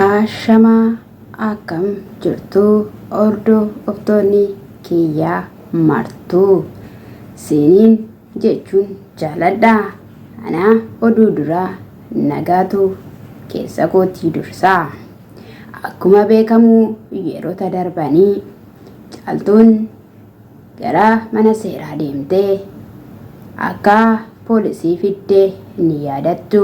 Ashamaa akkam jirtuu hordoftoonni kiyyaa martuu siiniin jechuun jaaladhaa anaa oduu duraa nagaatu keessa kootii dursaa akkuma beekamuu yeerota darbanii caaltuun Gara mana seeraa deemtee akka poolisii fidde ni yaadattu.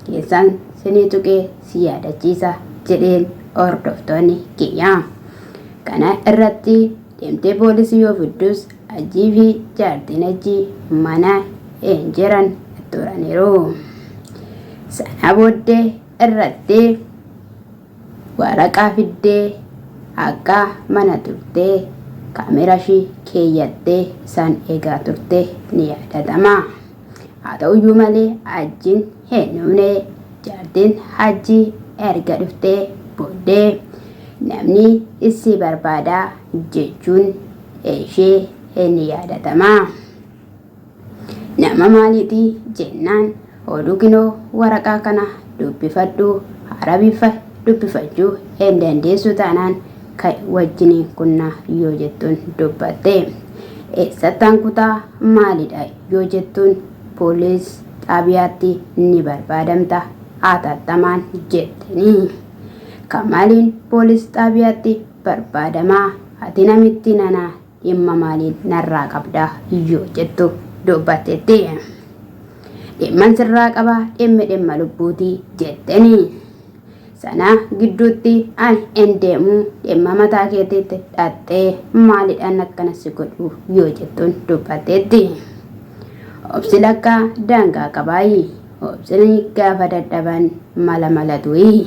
Keessaan sinii tuqee si yaadachiisa jedheen hordoftoonni keenya. Kana irratti deemtee poolisii yoo fiddus Hajjii fi jaartiin Hajjii mana hin jiran turaniiru. Sana booddee irratti Waraqaa fiddee akka mana turtee kaamerashi keeyyattee isaan eegaa turte ni yaadatama. Haa ta'uyyuu malee Hajjin hin dhufne. Jaartiin Hajjii erga dhuftee booddee namni issi barbaada jechuun ishee ni yaadatama. Nama maaliiti jennaan oduu kinoo waraqaa kana dubbifadhu harabiffa dubbifachuu hin dandeessu taanaan ka'i wajjiniin kunna yoo jettuun dubbatte. Eessattan kutaa maalidha yoo jettuun pooliis xaabiyaatti ni barbaadamta atattamaan jetteni. Kamaaliin pooliis xaabiyaatti barbaadamaa ati namitti nana Dhimma maaliin narraa qabda yoo jettu dubbatteetti. Dhimman sirraa qaba dhimmi dhimma lubbuuti jetteni. Sana gidduutti ani en deemu dhimma mataa keetiitti dhaxxee maalidhaan akkana si godhu yoo jettuun dubbatteetti. Obsi lakkaa daangaa qabaayi. Obsini gaafa dadhaban mala malatuyi.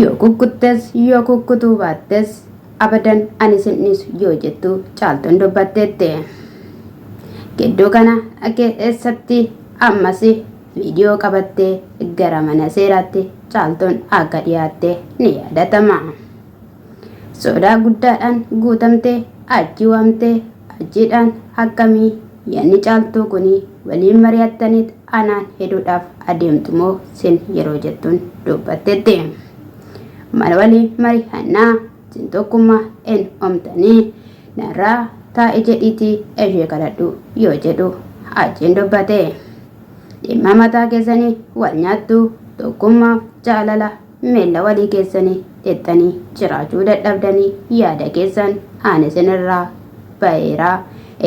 Yoo kukkuttes yoo kukkutuu baattes abadan ani sin dhiisu yoo jettu caaltuun dubbatteetti. Gidduu kana keessatti ammas viidiyoo qabattee gara mana seeraatti caaltuun akka dhiyaatte ni yaadatama. Sodaa guddaadhaan guutamtee Aajjii waamtee Aajjiidhaan Akkamii yanni Caaltuu kuni waliin mari'attaniit anaan hiduudhaaf adeemtu moo sin yeroo jettuun dubbattetti. Mal waliin mari'annaa sin tokkummaa in umtanii narraa taa'i jedhiitii eshee kadhadhu yoo jedhu Aajjiin dubbate. Dhimma mataa keessanii wal nyaattu tokkummaaf jaalala Mella walii keessani dhexxanii jiraachuu dadhabdanii yaada keessan ani sinirraa baheera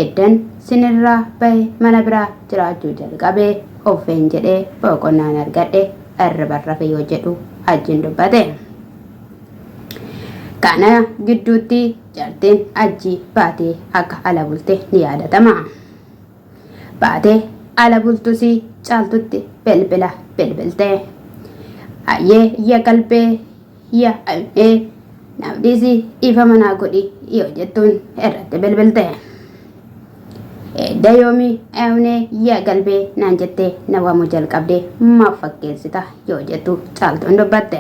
eddan sinirraa bahe mana biraa jiraachuu jalqabe uffeen jedhe boqonnaan argadhe irriban rafe yoo jedhu Hajjin dubbate. Kana gidduutti jartiin Hajjii baatee akka ala bulte ni yaadatama. Baatee ala bultu sii caaltutti bilbila bilbilte. Hayyee ya qalbee ya ayyee naaf dhiisi dhiifama naa godhi yoo jettuun irratti bilbilte. Edda yoomii ayunee ya galbee naan jettee na waamuu jalqabde maaf fakkeessita yoo jettu caaltuun dubbatte.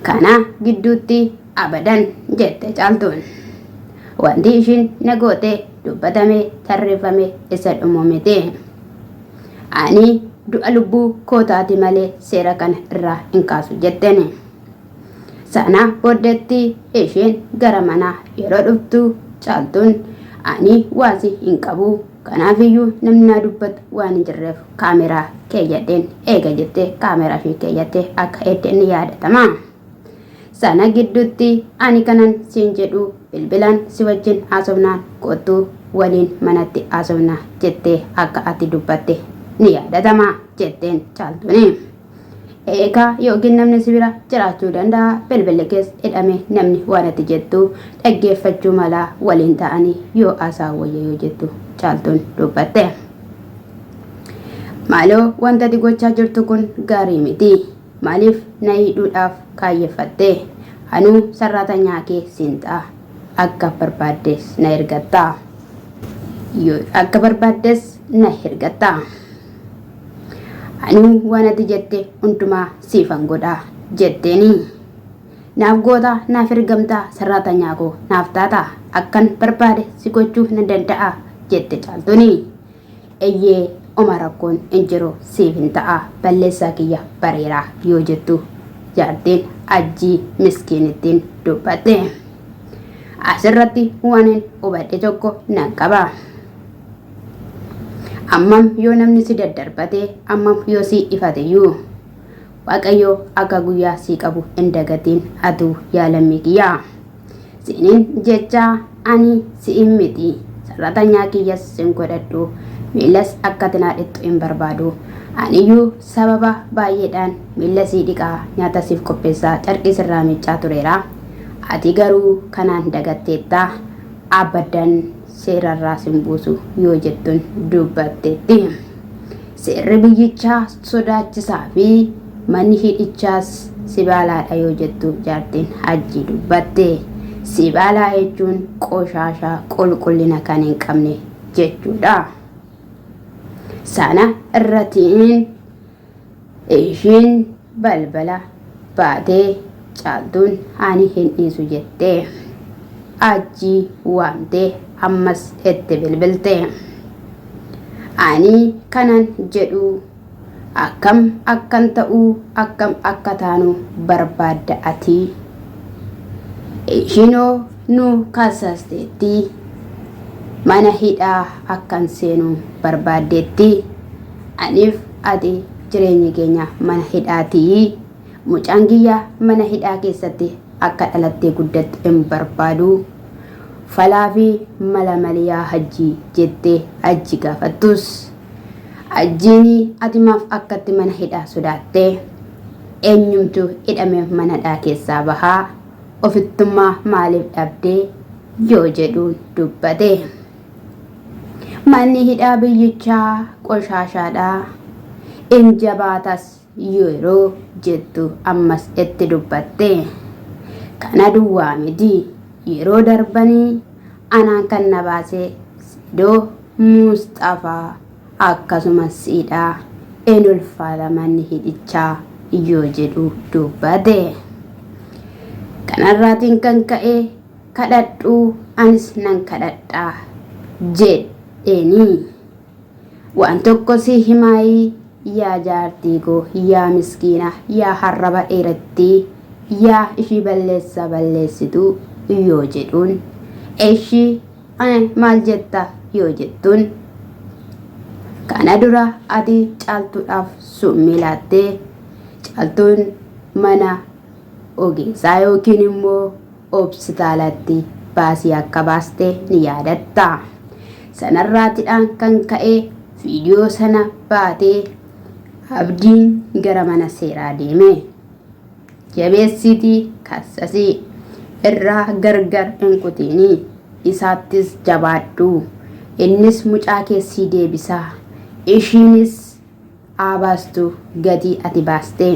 Kana gidduutti Abadan! jette Caaltuun. Wanti ishiin na goote dubbatamee tarreeffame isa dhumu miti. Ani du'a lubbuu kootaati malee seera kana irraa hin kaasu jetteni. Sana booddeetti isheen gara manaa yeroo dhuftu Caaltuun ani waasi hin qabu kanaafiyyuu namni naa dubbatu waan hin jirreef kaameraa keeyyadheen eega jettee kaameraa ishee keeyyattee akka eegde ni yaadatama. Sana gidduutti ani kanan siin jedhu bilbilaan si wajjin haasofnaan kottu waliin manatti haasofna jettee akka ati dubbatte ni yaadatama jetteen caaltuuni. Eegaa yookiin namni si bira jiraachuu danda'a bilbilli kees hidhame namni waan ati jettu dhaggeeffachuu malaa waliin ta'anii yoo haasa'an wayya yoo jettu caaltuun dubbatte. Maaloo wanta ati gochaa jirtu kun gaarii miti. Maliif na hiidhuudhaaf kaayyeffatte? Anuu sarraatanyaa kee sin ta'a, akka barbaaddes na ergatta. Yo akka barbaaddes na ergatta. Anuu waan ati jette hundumaa siifan godha jetteeni. Naaf goota, naaf ergamta, sarraatanyaa koo naaf taata, akkan barbaade si gochuu nan danda'a jette Caaltuuni. Eyyee oma rakkoon hin jiru siif hin ta'a balleessaa kiyya bareera yoo jettu jaartiin ajjii miskiinittiin dubbatte. Asirratti waanin hubadhe tokko nan qaba. Ammam yoo namni si daddarbate ammam yoo si ifateyyuu Waaqayyo akka guyyaa si qabu hin dagatiin atuu yaa lammii kiyyaa. Siinin jecha ani si'in miti. Sarratanyaa kiyyas sin godhadhu. Miillas akkati naa dhiqxu hin barbaadu. Aniyyuu sababa baay'eedhaan miilla sii dhiqaa, nyaata siif qopheessaa, carqii sirraa miiccaa tureera. Ati garuu kanaan dagatteetta. Abaddan seerarraa sin buusu yoo jettun dubbatteetti. Seerri biyyichaa sodaachisaa fi manni hidhichaas sibaalaadha yoo jettu jaartiin Hajjii dubbatte. Sibaalaa jechuun qoshaashaa qulqullina kan hin qabne jechuudha. Sana irratiin ishiin balbala baatee Caaltuun ani hin dhiisu jettee Ajjii waamtee ammas itti bilbilte. Ani kanan jedhu akkam akkan ta'uu akkam akka taanu barbaadda ati. Ishinoo nu kaasaasteetti mana hidhaa akkan seenu barbaaddeetti. Aniif ati jireenyi keenya mana hidhaati. Mucaan kiyya mana hidhaa keessatti akka dhalattee guddattu hin barbaadu. Falaa fi mala mali yaa hajjii jettee hajji gaafattus. Hajjiin ati maaf akkatti mana hidhaa sodaatte? Eenyumtu hidhamee mana hidhaa keessaa baha? Ofittummaa maaliif dhabde? yoo jedhuun dubbate. Manni hidhaa biyyichaa qoshaashaadha. In jabaatas yeroo jettu ammas itti dubbatte. Kana duwwaa miti yeroo darbanii anaan kan na baase Seedoo Muusxafaa akkasumas siidha. In ulfaata manni hidhichaa yoo jedhu dubbate. Kanarraatiin kan ka'e kadhadhu anis nan kadhadha jedheenii. Waan tokko sii himaayii yaa jaartii koo yaa miskiina yaa harraba dhiirattii yaa ishii balleessaa balleessituu yoo jedhuun eshii eh, maal jetta yoo jettuun kana dura ati caaltuudhaaf summii laattee caaltuun mana ogeessaa yookiin immoo Obstaalatti baasii akka baaste ni yaadatta. Sanarraatidhaan kan ka'e viidiyoo sana baatee Abdiin gara mana seeraa deeme. Jabeessiitii kassasi. Irraa gargar hin kutiini. Isaattis jabaadhu. Innis mucaa kee sii deebisa. Ishiinis haa baastu gatii ati baaste.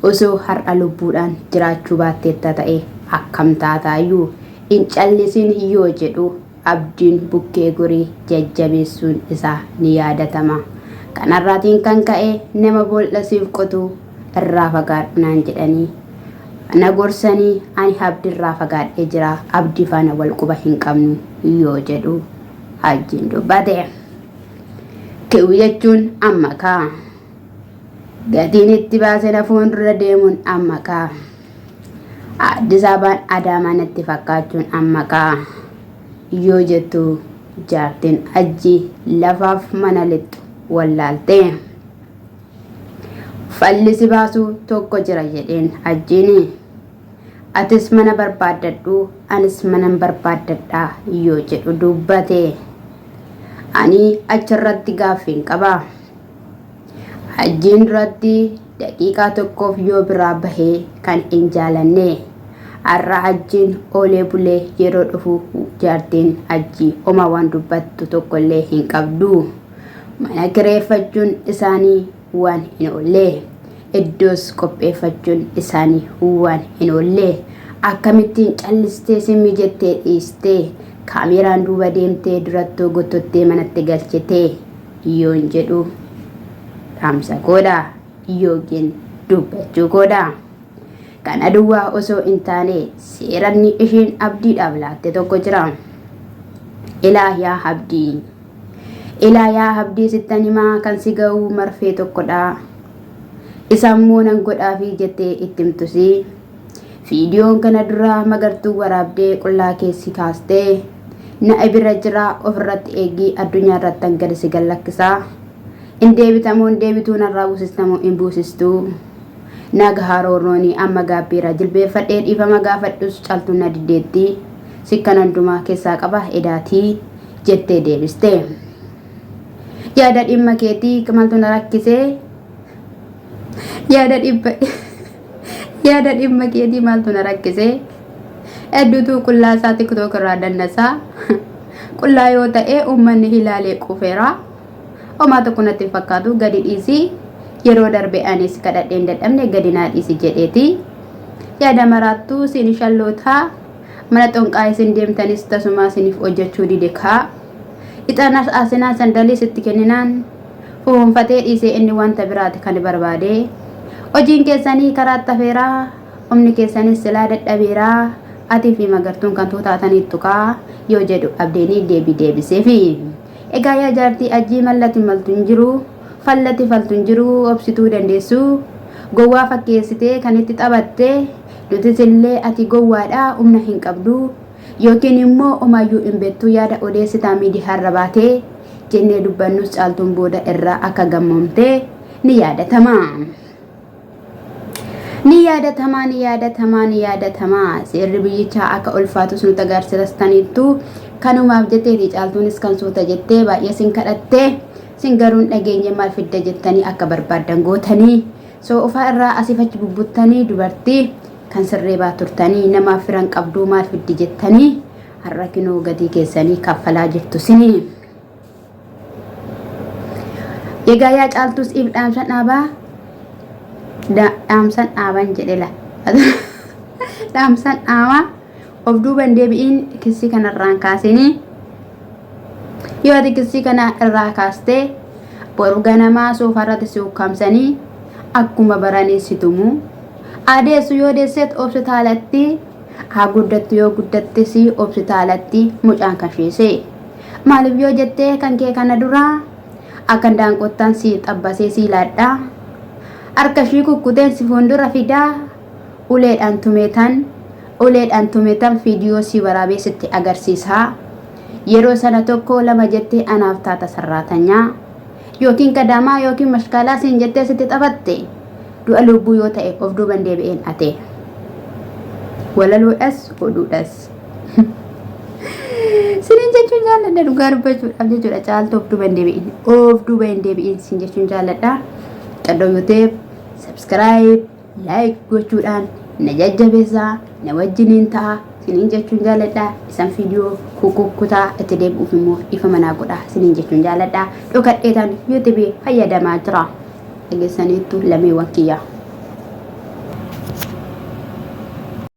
Osoo har'a lubbuudhaan jiraachuu baatteetta ta'e akkam taataayyuu? Hin callisin yoo jedhu Abdiin bukkee gorii jajjabeessuun isaa ni yaadatama. Kanarraatiin kan ka'e nama bool'a siif qotu irraa fagaadhu naan jedhanii na gorsanii ani Abdirraa fagaadhee jira Abdii faana wal quba hin qabnu yoo jedhu Hajjiin dubbate. Ki'uu jechuun amma kaa. Gatiin itti baase na fuuldura deemuun amma kaa. Addis Ababaan Adaamaa natti fakkaachuun amma kaa. Yoo jettu jaartiin ajji lafaaf mana lixxu wallaaltee. Falli si baasu tokko jira jedheen ajjiini. Atis mana barbaaddadhu, anis manan barbaaddadha yoo jedhu dubbate. Ani achirratti gaaffiin qaba. Hajjiin duratti daqiiqaa tokkoof yoo biraa bahee kan hin jaalanne. Har'a hajjiin oolee bulee yeroo dhufu jaartiin hajjii oma waan dubbattu tokkollee hin qabdu. Mana kireeffachuun isaanii waan hin oolle. Iddoos qopheeffachuun isaanii waan hin oolle. Akkamittiin callistee simmi jettee dhiiste. Kaameeraan duuba deemtee durattuu gottottee manatti galchite. Yoon jedhu dhaamsa koodha yookiin dubbachuu koodha. Kana duwwaa osoo hin taane seeranni isheen abdiidhaaf laatte tokko jira. Ilaa yaa abdii! Ilaa yaa Abdii sittan himaa kan si ga'uu marfee tokkodha. Isa ammoo nan godhaafii jettee itti himtusi. Viidiyoon kana dura magartuu waraabdee qullaa kee si kaaste. Na ibira jira ofirratti eegi addunyaa irrattan gadi si gallakkisaa. In deebitamoo hin deebituu narraa buusistamoo hin buusistuu. Nagaha roorrooni amma gaabbeera jilbeeffadhee dhiifama gaafadhus caltuun na diddeetti sikkan hundumaa kessaa qaba edaati jettee deebiste yaada dhimma keetii maltu na rakkise yaada dhibba yaada dhimma keetii maaltu na rakkise hedduutu qullaa isaa tiktook irraa dannasaa qullaa yoo ta'e uummanni ilaalee quufeera. Homaa tokko natti hin fakkaatu gadi dhiisi yeroo darbe ani si kadhadhee hin dadhabne gadi naa dhiisi jedheeti. Yaada maraattuu siin shallootaa mana xonqaa isin deemtanis tasumaa siniif hojjechuu dide kaa. Ixaana aasinaan sandaliis itti kenninaan fufunfatee dhiisee inni wanta biraati kan barbaade. Hojiin keessanii karaatti hafeera humni keessanis silaa dadhabeera atii fi magartuun kan tuutaataniittu kaa yoo jedhu abdeenii deebii deebiseefi. Egaa yaa jaartii ajjii mallati maltu hin jiru fallati faltu hin jiru obsituu dandeessu gowwaa fakkeessitee kan itti taphatte nutis illee ati gowwaadha umna hin qabdu yookiin immoo omaayyuu hin bettu yaada odeessitaa miidihaarra baatee jennee dubbannus caaltuun booda irraa akka gammoomte ni yaadatama. ni yaadatamaa ni yaadatamaa ni yaadatamaa seerri biyyichaa akka ulfaatus nuti agarsiistaniittu kanumaaf jetteeti caaltuunis kan suuta jettee baay'ee sin kadhattee sin garuun dhageenye maal fidda jettanii akka barbaaddan gootanii soo ufaa irraa asiif achi bubbuttanii dubartii kan sirree baa turtanii namaaf firan qabduu maal fiddi jettanii har'a kinoo gatii keessanii kaffalaa jirtu sinii. Egaa yaa caaltuus if dhaamsan dhaabaa dhaamsan dhaaban jedhela. Dhaamsan dhaamaa of duuban deebi'iin kissii kanarraan kaasinii yoo ati kissii kana irraa kaastee boru ganamaa soofarratti si ukkaamsanii akkuma baranii si tumuu adeessu yoo deesseet obsitaalatti Haa guddattu yoo guddattes obsita alatti mucaan kan sheese. Maaliif yoo jette kan kee kana dura akkan daanqottaan si xabbasee si laadha. Harka ishii kukkuteen si fuundura fida uleedhaan tumee tan uleedhaan tume tan viidiyoo si waraabee sitti agarsiisa. Yeroo sana tokko lama jettee anaaf taata sarraatanyaa. Yookiin kadaamaa yookiin mashkaalaa siin jettee sitti taphatte. Du'a luubbuu yoo ta'e of duuban deebi'een atee. Walaloodhas oduudhas. Sinin jechuun jaalladha dhugaa dubbachuudhaaf jechuudha caaltu of duuban deebi'in of duuba hin deebi'in sin jechuun jaalladha. Qadoo yuuteef sabskiraayib laayik gochuudhaan na jajjabeessaa na wajjiniin ta'a sinin jechuun jaalladha isan viidiyoo kukukkutaa itti deebi'uuf immoo dhiifama naa godha sinin jechuun jaalladha dhokadheetan yuutubii fayyadamaa jira. dhageessaniittu lammiiwwan kiyya.